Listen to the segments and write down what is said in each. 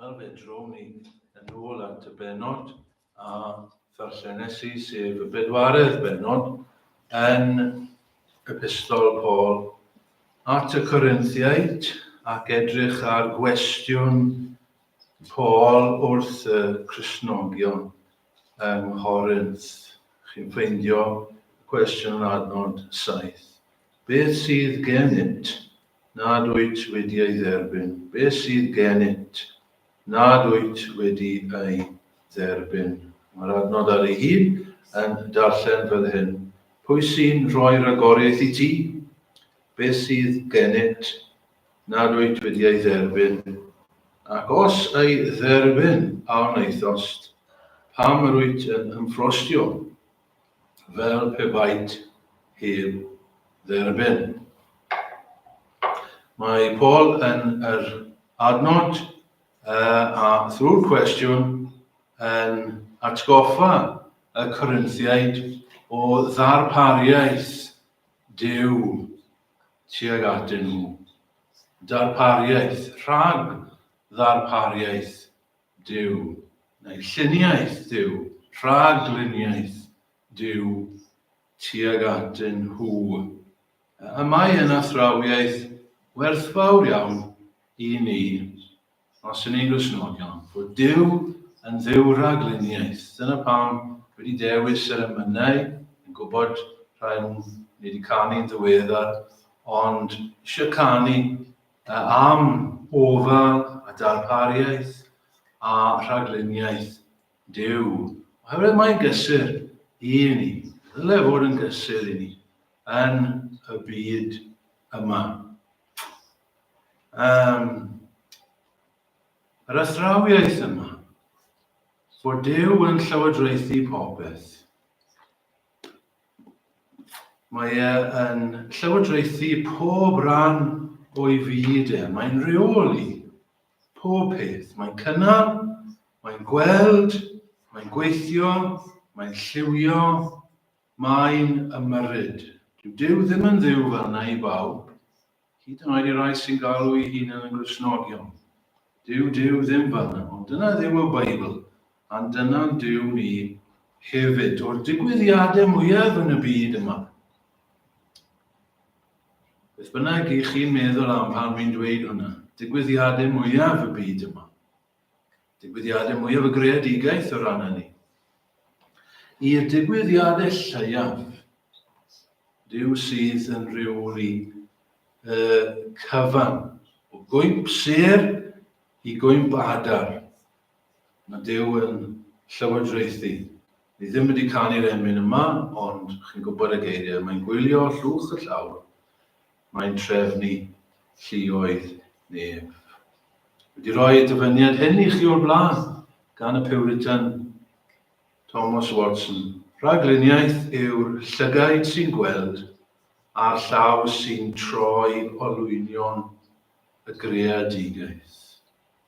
Wel, fe drown ni yn ôl at y benod a ddarllenes i, sef y bedwaredd benod, yn epistol Paul at y Corinthiaid ac edrych ar gwestiwn Paul wrth y Cresnogion yng Nghorinth. Chi'n ffeindio cwestiwn yn adnod 7. Beth sydd genynt? nad wyt wedi ei dderbyn. Be sydd gennyt nad wyt wedi ei dderbyn? Mae'r adnod ar ei hun yn darllen fel hyn, Pwy sy'n rhoi rhagoriaeth i ti? Be sydd gennyt nad wyt wedi ei dderbyn? Ac os ei dderbyn, a wnaethost, pam yr wyt yn ymffrostio? fel pe baent heb dderbyn. Mae Paul yn yr adnod uh, a thrwy'r cwestiwn yn atgoffa y Corinthiaid o ddarpariaeth Dyw tuag atyn nhw. Darpariaeth, rhag ddarpariaeth Duw, neu lluniaeth Duw, rhagluniaeth Duw tuag atyn nhw. A mae yn athrawiaeth werthfawr iawn i ni, os yn ni'n Gristnogion, bod Duw yn Dduw rhagluniaeth. Dyna pam wedi dewis yr emynau, yn gwybod rhaid ni wedi canu'n ddiweddar, ond eisiau canu A am ofal a darpariaeth a rhagluniaeth Duw, oherwydd mae'n gysur i ni, ddyle fod yn gysur i ni, yn y byd yma. Um, yr athrawiaeth yma, fod Duw yn llywodraethu popeth, Mae e yn llywodraethu pob rhan o'i fyd e. Mae'n reoli pob peth. Mae'n cynnal, mae'n gweld, mae'n gweithio, mae'n lliwio, mae'n ymyrryd. Dyw Duw ddim yn Dduw fel na i bawb. Hyd yn oed i rai sy'n galw'u hunan yn Gristnogion. Dyw Duw ddim fan'na, ond dyna dduw y Beibl, and dyna'n Duw ni hefyd. O'r digwyddiadau mwyaf yn y byd yma, beth bynnag i chi'n meddwl am pan fi'n dweud hwnna, digwyddiadau mwyaf y byd yma, Digwyddiadau mwyaf y greadigaeth o ran hynny. I'r digwyddiadau lleiaf, Dyw sydd yn rheoli y cyfan o gwynt sêr i gwynt adar. Mae Dyw yn llywodraethu. Ni ddim wedi canu'r emyn yma, ond chi'n gwybod y geiriau. Mae'n gwylio llwch y llawr Mae'n trefnu lluoedd nef. Wedi rhoi y dyfyniad hyn i chi o'r blaen gan y Piwritan Thomas Watson. Rhagluniaeth yw'r llygaid sy'n gweld a'r llaw sy'n troi olwynion y greadigaeth.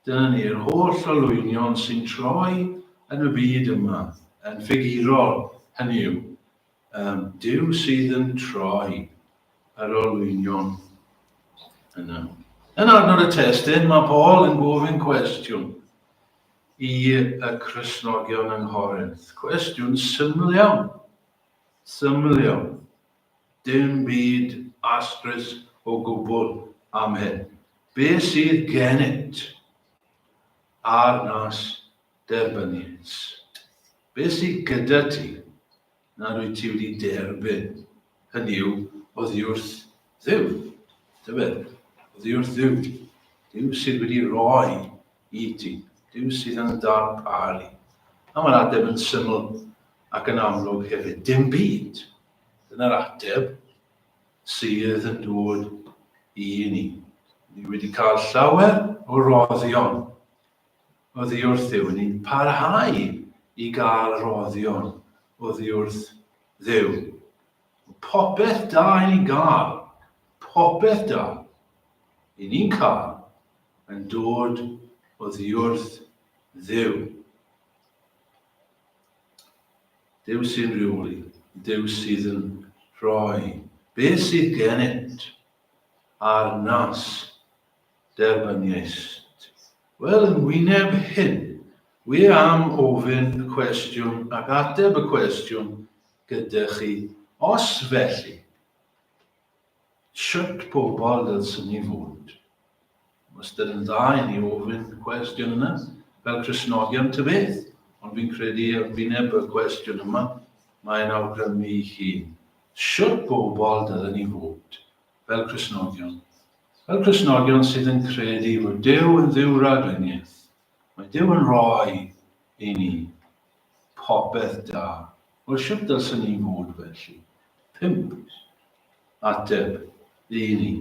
Dyna ni, yr holl olwynion sy'n troi yn y byd yma, yn ffigurol, hynny yw, Am Duw sydd yn troi yr olwynion yna. Yn adnod y testyn, mae Paul yn gofyn cwestiwn i y Cristnogion yng Nghorinth. Cwestiwn syml iawn. Syml iawn. Dim byd astrus o gwbl am hyn. Be sydd genyt ar nas Derbyniais. Be' sy gyda ti? Na rwyt ti wedi derbyn, hynny yw, oddiwrth Dduw. Tybed, oddiwrth Dduw. Duw sydd wedi rhoi i ti. Duw sydd yn darparu. A mae'r ateb yn syml ac yn amlwg hefyd. Dim byd. Dyna'r ateb sydd yn dod i ni. Ni wedi cael llawer o roddion oddi wrth Dduw, ni'n parhau i gael rhoddion oddi wrth Dduw. Popeth da i ni'n gael, popeth da i ni'n cael yn dod oddi wrth Dduw. Dduw sy'n rheoli, Dduw sydd yn rhoi beth sydd gennyt ar nas Derbyniaist. Wel, yn wyneb hyn, wir am ofyn y cwestiwn ac ateb y cwestiwn gyda chi, os felly, shwt pobl ddylswn ni fod? Wastad yn dda i ni ofyn y cwestiwn yna, fel Cristnogion ta beth, ond fi'n credu ar wyneb y cwestiwn yma, mae'n awgrymu ei hun. Shwt bobl dylen ni fod? fel Cristnogion, fel Cristnogion sydd yn credu fod Duw yn dduw raglenniaeth, mae Duw yn rhoi i ni popeth da. Wel, sut dylswn ni fod felly? Pump ateb i ni,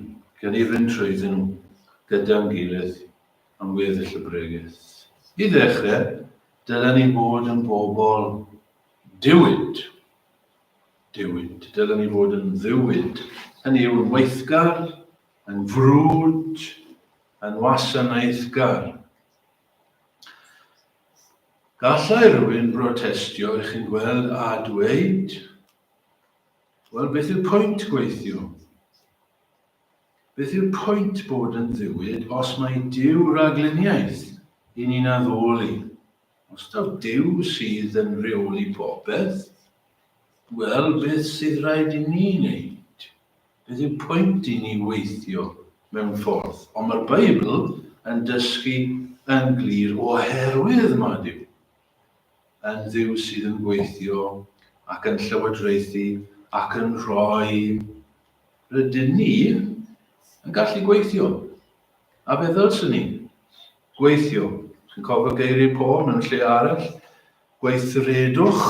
gan i fynd trwyddyn nhw gyda'n gilydd am weddill y bregeth. I ddechrau, dylen ni fod yn bobl diwyd. Diwyd. Dylen ni fod yn ddiwyd, hynny yw yn weithgar, yn frwd, yn wasanaethgar. Gallai rhywun brotestio i chi'n gweld a dweud, wel beth yw'r pwynt gweithio? Beth yw'r pwynt bod yn ddiwyd os mae diw ragluniaeth i ni'n addoli? Os taw Duw sydd yn rheoli popeth, wel, beth sydd raid i ni wneud? Beth yw pwynt i ni weithio mewn ffordd? Ond mae'r Beibl yn dysgu yn glir oherwydd mae Duw yn Dduw sydd yn gweithio ac yn llywodraethu ac yn rhoi rydyn ni yn gallu gweithio. A beth ddylswn ni Gweithio, chi'n cofio geiriau Paul mewn lle arall? Gweithredwch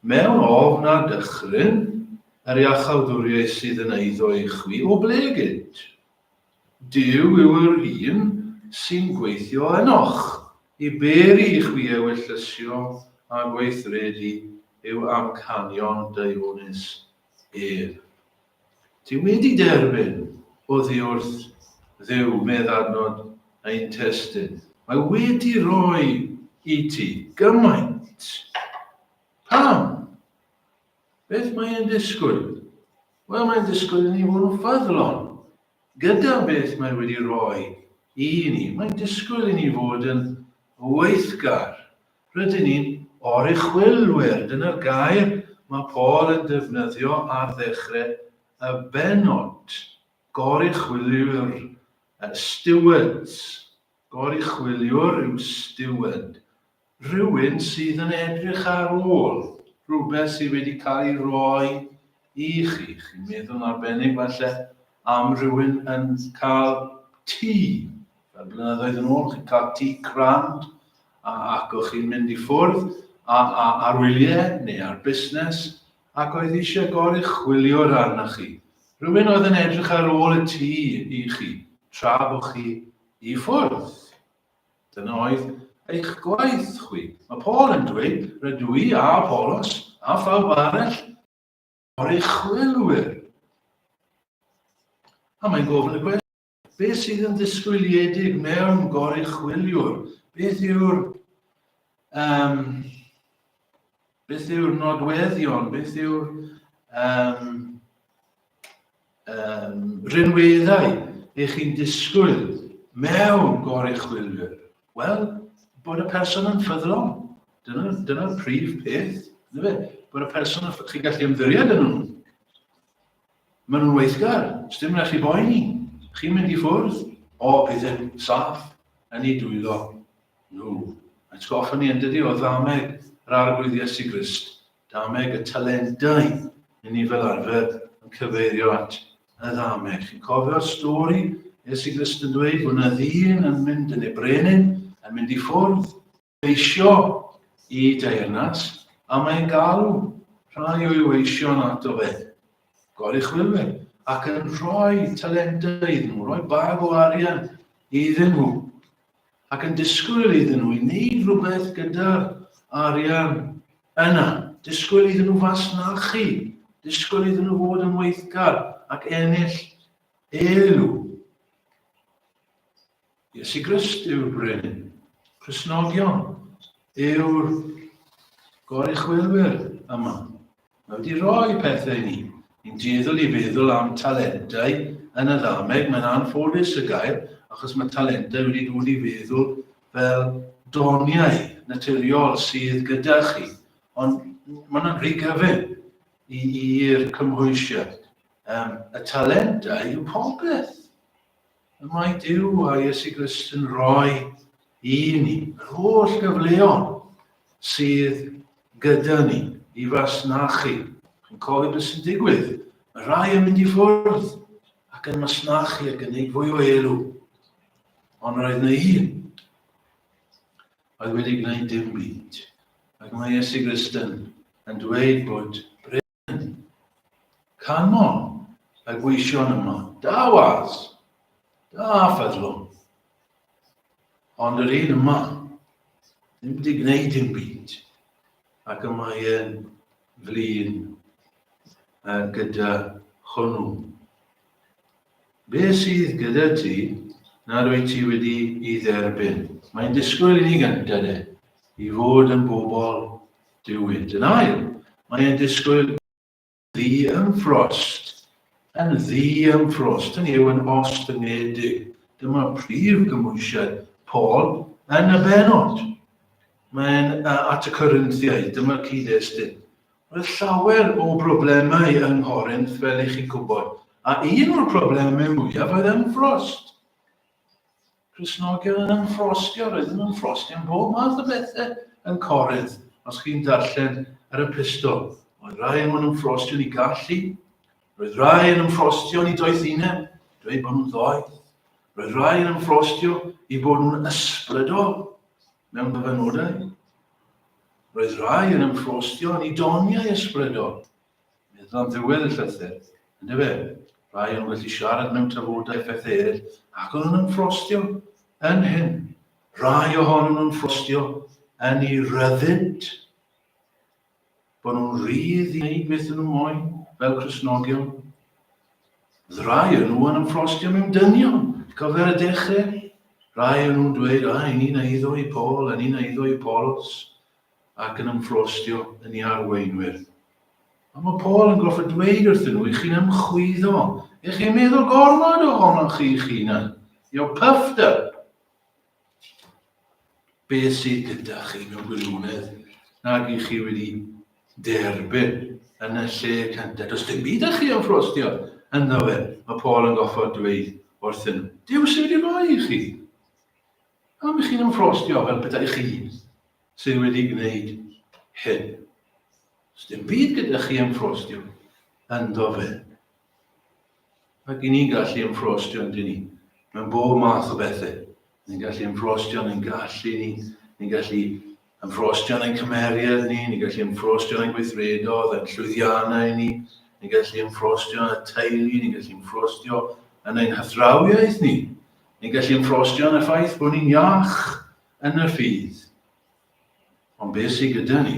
mewn ofn a dychryn, yr iachawdwriaeth sydd yn eiddo i chwi o ble gynt. Duw yw yr un sy'n gweithio ynoch i beri i chwi ewyllysio a gweithredu yw amcanion Deifonus ef. Ti wedi derbyn oddi wrth Dduw, medd adnod ein testyn. Mae wedi rhoi i ti gymaint. Pam? Beth mae e'n disgwyl? Wel, mae'n disgwyl i ni fod yn ffyddlon gyda beth mae wedi rhoi i ni. Mae'n disgwyl i ni fod yn weithgar Rydyn ni'n oruchwylwyr, dyna'r gair mae Paul yn defnyddio ar ddechrau y bennod. Goruchwyliwr, stewards. Goruchwyliwr yw steward. Rhywun sydd yn edrych ar ôl rhywbeth sydd wedi cael ei roi i chi. Chi'n meddwl arbennig falle am rhywun yn cael tŷ Fel blynyddoedd yn ôl, chi'n cael tŷ grand ac o'ch chi'n mynd i ffwrdd ar wyliau neu ar busnes ac oedd eisiau goruchwylio'r arna chi. Rhywun oedd yn edrych ar ôl y tŷ i chi tra bo chi i ffwrdd. Dyna oedd eich gwaith chwi. Mae Paul yn dweud, rydw i a Apollos a phawb arall oruchwylwyr. A mae'n gofyn y cwestiwn, Beth sydd yn ddisgwyliedig mewn goruchwyliwr? Beth yw'r um, beth yw'r nodweddion? Beth yw'r um, um, rhinweddau eich chi'n disgwyl mewn goruchwyliwr? Wel, bod y person yn ffyddlon. Dyna'r dyna prif peth. Dyna fe. Bod y person yn ffyddlon. Chi'n gallu ymddiried yn nhw. Maen nhw'n weithgar, sdim rhaid chi boeni, chi'n mynd i ffwrdd o pethau saff yn eu dwylo nhw. Mae'n sgoffa ni yn dydi o ddameg yr Arglwydd Iesu Grist, dameg y talentau, yn ni fel arfer yn cyfeirio at y ddameg. Chi'n cofio'r stori Iesu Grist yn dweud bod yna ddyn yn mynd yn ei brenin, yn mynd i ffwrdd, Eisio i deyrnas, a mae'n galw rhai o'i weision ato fe, goruchwylwyr, ac yn rhoi talentau iddyn nhw, rhoi bag o arian iddyn nhw, ac yn disgwyl iddyn nhw i wneud rhywbeth gyda'r arian yna, disgwyl iddyn nhw fasnachu, disgwyl iddyn nhw fod yn weithgar ac ennill elw. Iesu Grist yw'r Brenin. Cristnogion yw'r goruchwylwyr yma. Mae wedi rhoi pethau i ni. Ni'n dueddol i feddwl am talentau yn y ddameg, mae'n anffodus y gair, achos mae talentau wedi dod i feddwl fel doniau naturiol sydd gyda chi. Ond mae yna'n rhy gyfyn i'r cymhwysiad. Um, y talentau yw popeth. Y mae Duw a Iesu Grist yn rhoi i ni yr holl gyfleon sydd gyda ni i fasnachu. Chi'n cofio beth sy'n digwydd? Mae rhai yn mynd i ffwrdd ac yn masnachu ac yn gwneud fwy o elw. Ond roedd yna un oedd wedi gwneud dim byd. Ac mae Iesu Grist yn, yn dweud bod hynny. Canon y gweision yma. Da was. Da ffeddlwm. Ond yr un yma, ddim wedi gwneud dim byd. Ac y mae e'n flin uh, gyda hwnnw. Be sydd gyda ti nad wyt ti wedi i dderbyn? Mae'n disgwyl i ni gynta de, i fod yn bobl diwyd. Yn ail, mae e'n disgwyl ddi yn frost, yn ddi yn frost, yn yw yn ostyngedig. Dyma prif gymwysiad Paul yn y benod. Mae'n at y Corinthiaid, dyma'r cyd-destun. Roedd llawer o broblemau yng Nghorinth, fel i chi gwybod, a un o'r problemau mwyaf oedd ymffrost. Cresnogion yn ymffrostio, roedd yn ymffrostio yn bob math o bethau yn Corinth, os chi'n darllen yr epistol. Oedd rai yn ymffrostio ni gallu, roedd rai yn ymffrostio ni doethineb, dweud bod nhw'n ddoeth. Roedd rai yn ymffrostio i bod nhw'n ysbrydol, mewn dyfynodau. Roedd rhai yn ymffostio yn idoniau ysbrydol, meddwl am ddiwedd y llythyr, yn dyfe, rhai yn wedi siarad mewn tafodau pethau eraill ac oedd yn ymffostio yn hyn. Rhai ohonyn nhw'n ffostio yn ei ryddid. bod nhw'n rhydd i wneud beth nhw moyn fel Cristnogion. Rai yn nhw yn ymffrostio mewn dynion, cofer y dechrau. Rai yn nhw'n dweud, a, yn un eiddo i Paul, yn un eiddo i Polos, ac yn ymffrostio yn ei arweinwyr. Ond mae Paul yn goffa dweud wrthyn nhw i chi'n ymchwyddo, i chi'n meddwl gormod ohonoch chi'ch hunan. You're puffed up. Beth sydd gyda chi mewn gwirionedd nag i chi wedi derbyn yn y lle cyntaf? Does dim byd â chi am ffrostio ynddo fe, mae Paul yn goffod dweud wrthyn nhw. Dyw sydd wedi rhoi i chi. Am i chi'n ymffrostio fel petai chi sydd wedi gwneud hyn. Does dim byd gyda chi ymffrostio ynddo fe. Ac i ni'n gallu ein ffrostio'n dyn ni, mewn bob math o bethau. Ni'n gallu ein ffrostio'n ein gallu ni, ni'n gallu yn ffrostio'n ein cymeriad ni, ni'n gallu yn ffrostio'n ein gweithredodd, ein llwyddiannau ni, ni'n gallu yn ffrostio'n y teulu, ni'n gallu yn ffrostio yn ein hathrawiaeth ni, ni'n gallu yn ffrostio yn y ffaith bod ni'n iach yn y ffydd. Ond beth sydd gyda ni?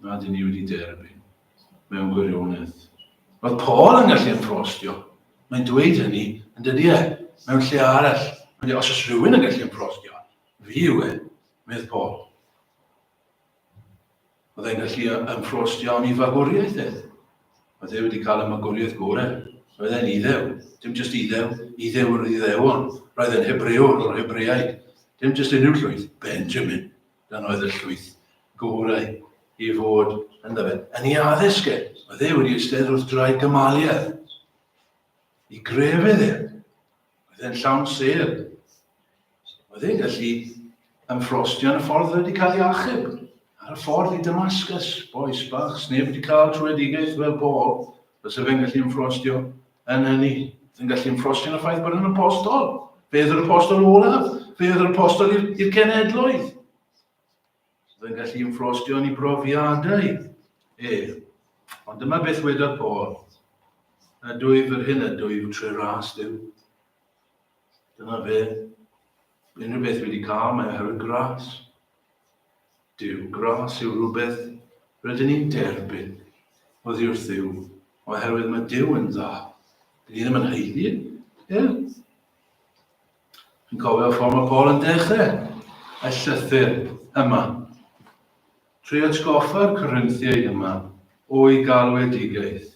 Nad i ni wedi derbyn, mewn gwirionedd. Oedd Paul yn gallu ymprostio. Mae'n dweud hynny, yn dydy e, mewn lle arall. Mae'n dweud, os oes rhywun yn gallu ymprostio, fi yw e, medd Paul. Oedd e'n gallu ymffrost iawn i fagwriaeth edd. Oedd e wedi cael y magwriaeth gore. Roedd e'n Iddew. Dim jyst Iddew. Iddew yr Iddewon. Roedd e'n Hebrewr o'r Hebreaid. Dim jyst unrhyw llwyth. Benjamin. Dan oedd y llwyth gorau i fod yn fe. Yn ei addysg e, oedd e wedi eistedd wrth draed Gamaliel. I grefydd e, Oedd e'n llawn sêr. Oedd e'n gallu ymffrostio yn y ffordd wedi cael ei achub. Ar y ffordd i Damascus, boes bach, sneb wedi cael trwyedigaeth fel Paul, bysa fe'n gallu ymffrostio yn hynny. Oedd e'n gallu ymffrostio yn y ffaith bod yn apostol. Fe oedd yr apostol olaf. Fe oedd yr apostol i'r cenedloedd. Byddai'n gallu inflostio yn ei brofiadau ef. Ond dyma beth wedodd Paul. A dwyf yr hyn a dwyf trwy ras Dyw. Dyna fe. Unrhyw beth wedi cael mae oherwydd gras. Dyw gras yw rhywbeth rydyn ni'n derbyn oddi wrth Dduw, oherwydd mae Dyw yn dda. Dyn ni ddim yn heiddi, er, Yn cofio ffordd mae Paul yn dechrau y llythyr yma. Trwy atgoffa'r Corinthiaid yma o'i galwedigaeth.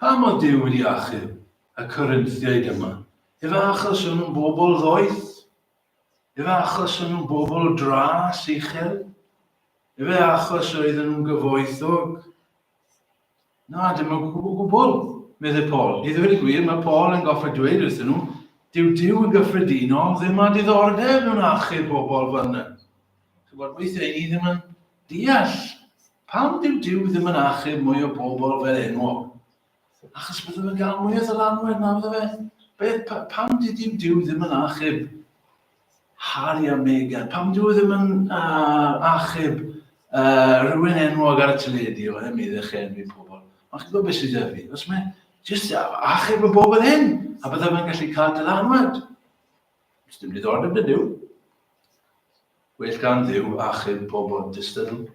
Pam oedd Duw wedi achub y Corinthiaid yma? Efe achos o'n nhw'n bobl ddoeth? Efe achos o'n nhw'n bobl dras uchel? Efe achos oedden nhw'n gyfoethog? Na, dim o gwbl, gwbl, meddai Paul. I ddweud y gwir, mae Paul yn goffa dweud wrthyn nhw, dyw Dyw yn gyffredinol ddim â diddordeb mewn achub pobl fan yna. Chybod, weithiau ni ddim yn deall pam dyw Dyw ddim yn achub mwy o bobl fel enwog. Achos byddwn yn cael mwy o ddylanwad na fyddo fe. Beth, pam dyw Dyw ddim yn achub Harri a Meghan. Pam dwi ddim yn uh, achub uh, rhywun enwog ar y teledu o ddim iddo chi enwi pobl. Ond chi'n gwybod beth sydd fi? Os mae jyst achub y bobl hyn, a byddaf yn gallu cael dylanwad. Os dim diddordeb yn dyw. Well gan ddiw achub pobl dystydl.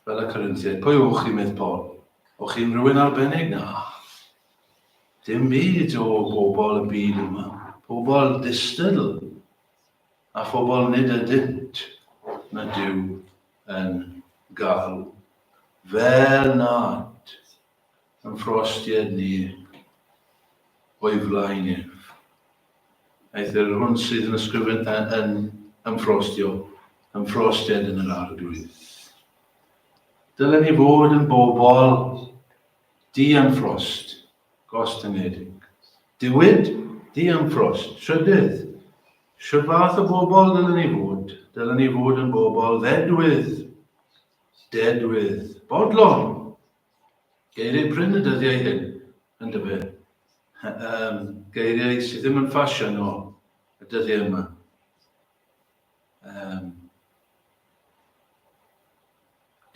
Fel y Corinthiaid, pwy yw'ch chi, medd Paul? O chi'n rhywun arbennig? Na. Dim byd o bobl y byd yma. Pobl distydl a phobl nid ydynt na Dyw yn galw. Fel nad yn frost i ynni o'i flaen ef. Aeth yr hwn sydd yn ysgrifennu yn, yn ymffrostio, ymffrostiad yn yr arglwydd. Dylen ni fod yn bobl di am ffrost, gostyngedig. Diwyd, di am ffrost, trydydd. Sio fath o bobl dylen ni fod? Dylen ni fod yn bobl ddedwydd, dedwydd, bodlon, Geiriau prin y dyddiau hyn, yn dyfe? Yym, geiriau sydd ddim yn ffasiwn o y dyddiau yma. Yym,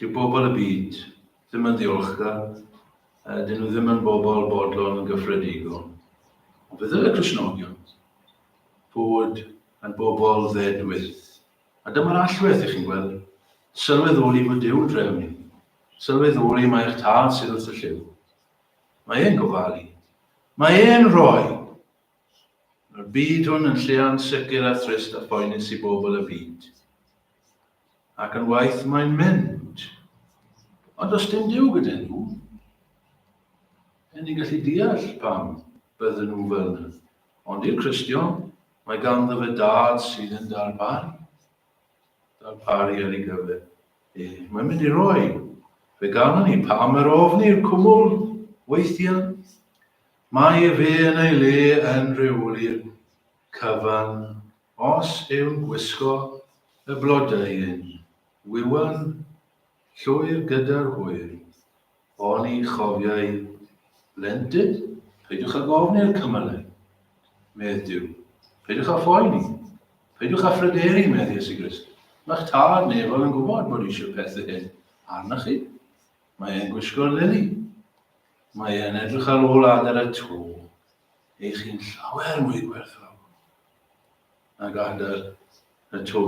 dyw bobl y byd ddim yn ddiolchgar, a dyn nhw ddim yn bobl bodlon yn gyffredigol. Ond fe ddylai Cristnogion fod yn bobl ddedwyll. A dyma'r allwedd, dych chi'n gweld. Sylweddoli fod Duw'n dref ni. Sylweddoli mai eich Tad sydd wrth y lliw. Mae e'n gofalu. Mae e'n rhoi! Mae'r byd hwn yn lle ansicr a thrist a phoenus i bobl y byd. Ac yn waith mae'n mynd. Ond os dim Duw gyda nhw, yn ni'n gallu deall pam bydden nhw fel yna. Ond i'r Cristion, mae ganddo fe Dad sydd yn darparu, darparu ar ei gyfer e. Mae'n mynd i roi fe gano ni pam yr ofni'r cwmwl weithiau. Mae fe yn ei le yn rheoli'r cyfan os yw'n gwisgo y blodau yn wywan Llwyr gyda'r hwyr. Oni chofiai blentyn? Peidiwch â gofn i'r cymylau, medd Duw. Peidiwch â phoeni. Peidiwch â phryderu, medd Iesu Grist. Mae'ch Tad nefol yn gwybod bod eisiau pethu hyn arnoch chi. Mae e'n gwisgo'r lili. Mae e'n edrych ar ôl adar y to. Eich chi'n llawer mwy gwerthfawr nag adar y to.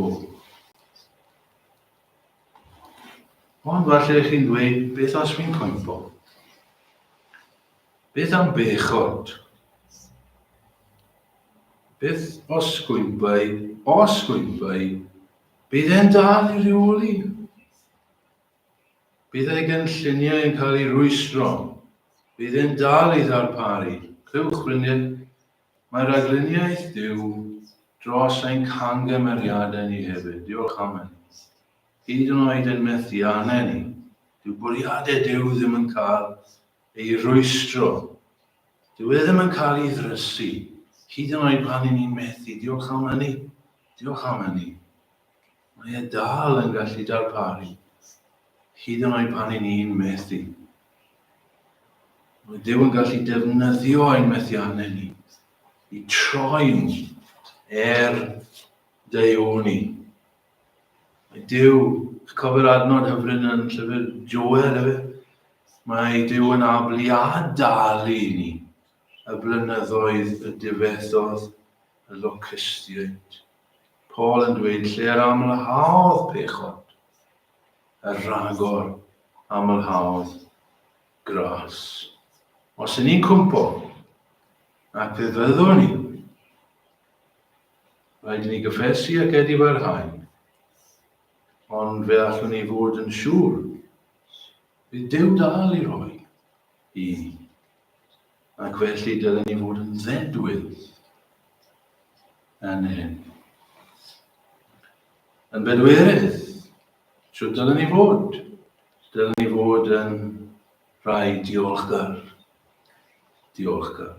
Ond falle chi'n dweud, beth os fi'n cwympo? Beth am bechod? Beth os gwympai, os gwympai, bydd e'n dal i reoli? Bydd ei gynlluniau yn cael ei rwystro, bydd e'n dal i ddarparu, clywch frynydd, Mae ragluniaeth Duw dros ein camgymeriadau ni hefyd, diolch am hynny. Hyd yn oed yn methiannau ni, dyw bwriadau Duw ddim yn cael ei rwystro. Dyw e ddim yn cael ei ddrysu, hyd yn oed pan ni'n methu, diolch am hynny, diolch am hynny. mae e dal yn gallu darparu, hyd yn oed pan i ni'n methu. Mae Dyw yn gallu defnyddio ein methiannau ni i troi'n er Dyw ni. Mae Dyw, cofio'r adnod hyfryd yn llyfr Joel efe, mae Dyw yn abl i adalu ni y blynyddoedd y difethodd y Locustiaid. Paul yn dweud lle yr amlhaodd pechod, y rhagor amlhaodd gras. Os yn ni'n cwmpo, ac fe fyddwn ni, rhaid ni gyffesu ac edifarhau, ond fe allwn ni fod yn siŵr, bydd Duw dal i roi i Ac felly dylen ni fod yn ddedwydd yn hyn. Yn bedwerydd, siwt dylen ni fod? Dylen ni fod yn rhai diolchgar. Diolchgar.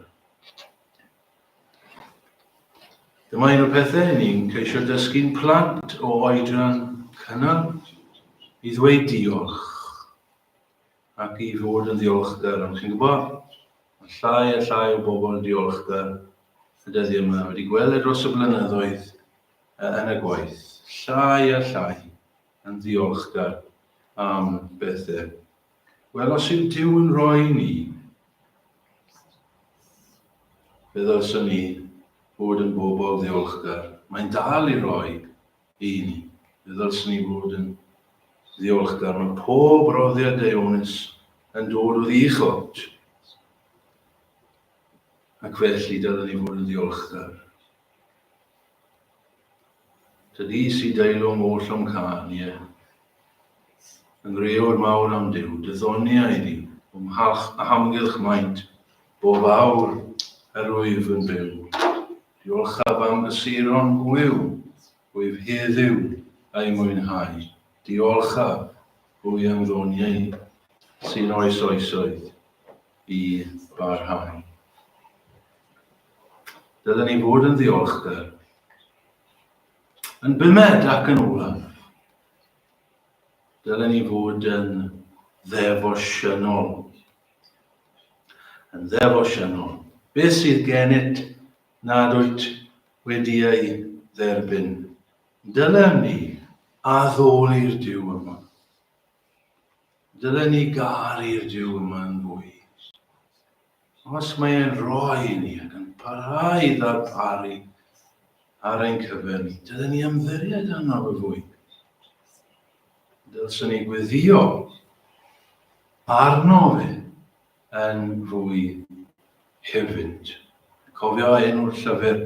Dyma un o'r pethau ni'n ceisio dysgu'n plant o oedran cynnal i ddweud diolch. ac i fod yn ddiolchgar, ond chi'n gwybod, mae llai a llai o bobl yn diolchgar y dyddiau yma, wedi gweld e dros y blynyddoedd yn y gwaith, llai a llai yn ddiolchgar am bethau. Wel, os yw Dyw yn rhoi ni, fe ddylswn ni fod yn bobl ddiolchgar. Mae'n dal i roi Ydi, fe ddylswn i fod yn ddiolchgar. Mae pob roddiad Deuonus yn dod o ddi Chortj. Ac felly dylwn ni fod yn ddiolchgar. Dydi si deilwng oll o'm cân, ie. Yn wreor mawr am Duw, dy ddoniau di. O'm mhalch a hamgylch maint, bob awr yr wyf yn byw. Diolchaf am dy seiron gwyw, wyf heddyw a'i mwynhau. Diolchaf, Hwy am ddoniau sy'n oes oesoedd i barhau. Dylen ni fod yn ddiolchgar Yn bumed ac yn olaf, dylen ni fod yn ddefosiynol. Yn ddefosiynol. Beth sydd gennyt nad wyt wedi ei dderbyn? Dylen ni addoli'r Duw yma. Dylen ni garu'r Duw yma yn fwy. Os mae e'n rhoi i ni ac yn parhau i ddarparu ar ein cyfer ni, dylen ni ymddiried arno fe fwy. Dylsen ni gweddio arno fe yn fwy hefyd. Cofio enw'r llyfr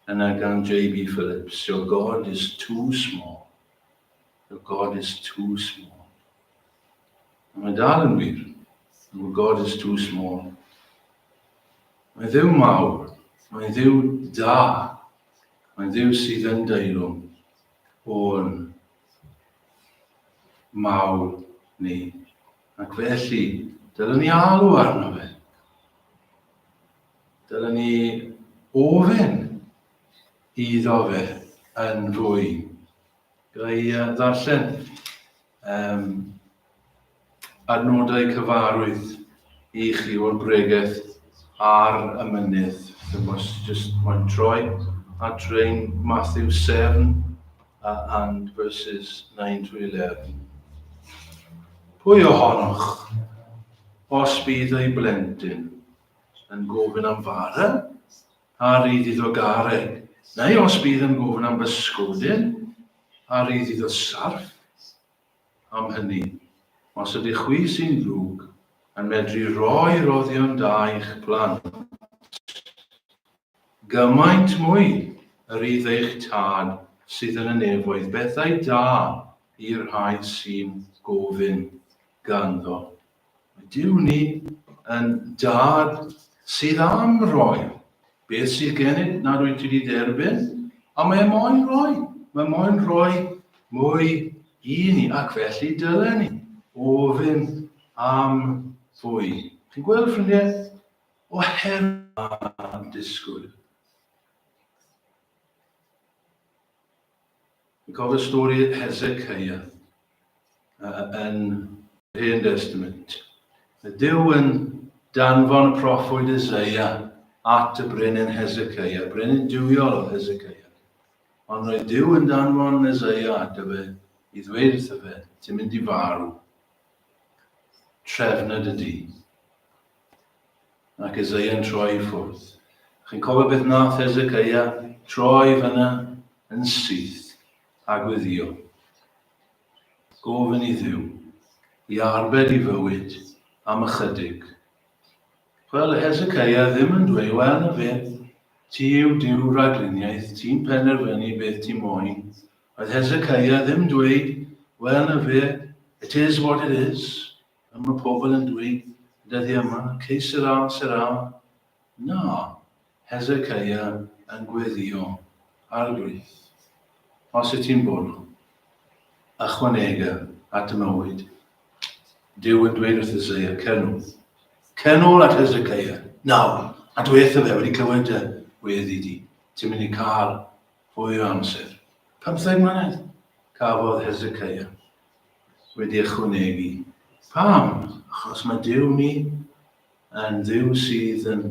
yna gan JB Phillips, Your God is too small. Your God is too small. Ond mae dal yn wir, Your God is too small. Mae'n ddiw mawr, mae'n ddiw da, mae'n ddiw sydd yn deilwng o'n mawr ni. Ac felly, dylwn ni alw arno fe. Dylwn ni ofyn iddo fe yn fwy. Gai ddarllen Yym, adnodau cyfarwydd i chi o'r bregeth ar y mynydd. Dim os just mae'n troi at rein Matthew Severn a and verses 9 to 11. Pwy ohonoch, os bydd ei blentyn yn gofyn am fara, A rydd iddo garen, neu os bydd yn gofyn am bysgodyn, a rydd iddo sarff. Am hynny, os ydych chwi sy'n ddrwg yn medru rhoi roddion da i'ch plant, gymaint mwy y rydd eich tad sydd yn y nefoedd bethau da i'r rhai sy'n gofyn ganddo. Mae Duw ni yn Dad sydd am roi beth sydd gennym nad wyt ti wedi derbyn, a mae e moyn rhoi, mae moyn rhoi mwy i ni, ac felly dylen ni ofyn am fwy. Chi'n gweld, ffrindiau, oherwydd a'n disgwyl. Yn cofio stori Hesecaia yn. Hen Destament. Y Duw yn danfon y proffwyd Eseia at y brenin Hesecaia, brenin duwiol oedd Hesecaia. Ond roedd Duw yn danfon Eseia at y fe i ddweud wrtho fe, ti'n mynd i farw. Trefned y du. Ac Eseia'n troi i ffwrdd. A chi'n cofio beth nath Hezecaia? Troi fyna yn syth a gweddio. Gofyn i Dduw i arbed i fywyd am ychydig. Wel, Hezecaia ddim yn dweud, wel na fe, ti yw Duw ragluniaeth, ti'n penderfynu beth ti moyn. Oedd Hezecaia ddim dweud, wel na fe, it is what it is. Fel mae pobl yn dweud dyddiau yma, que sera, sera. Na, Hezekiah yn gweddïo, Arglwydd, os wyt ti'n bono, ychwanega at y mywyd. Dyw yn dweud wrth Isaiah, cer nôl. Cer nôl at Hezekiah, nawr, a dweitha fe wedi clywed dy weddi di. Ti'n mynd i cael fwy o amser. Pymtheg mlynedd cafodd Hezekiah wedi ychwanegu, Pam? Achos mae Duw ni yn Dduw sydd yn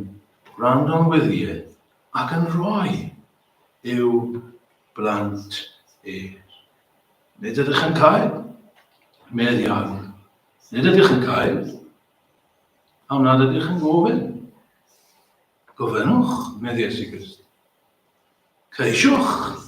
gwrando'n wyliau ac yn rhoi i'w blant e. Nid ydych yn cael, medd iawn. Nid ydych yn cael, am nad ydych yn gofyn. Gofynnwch, medd Iesu Grist. Ceisiwch,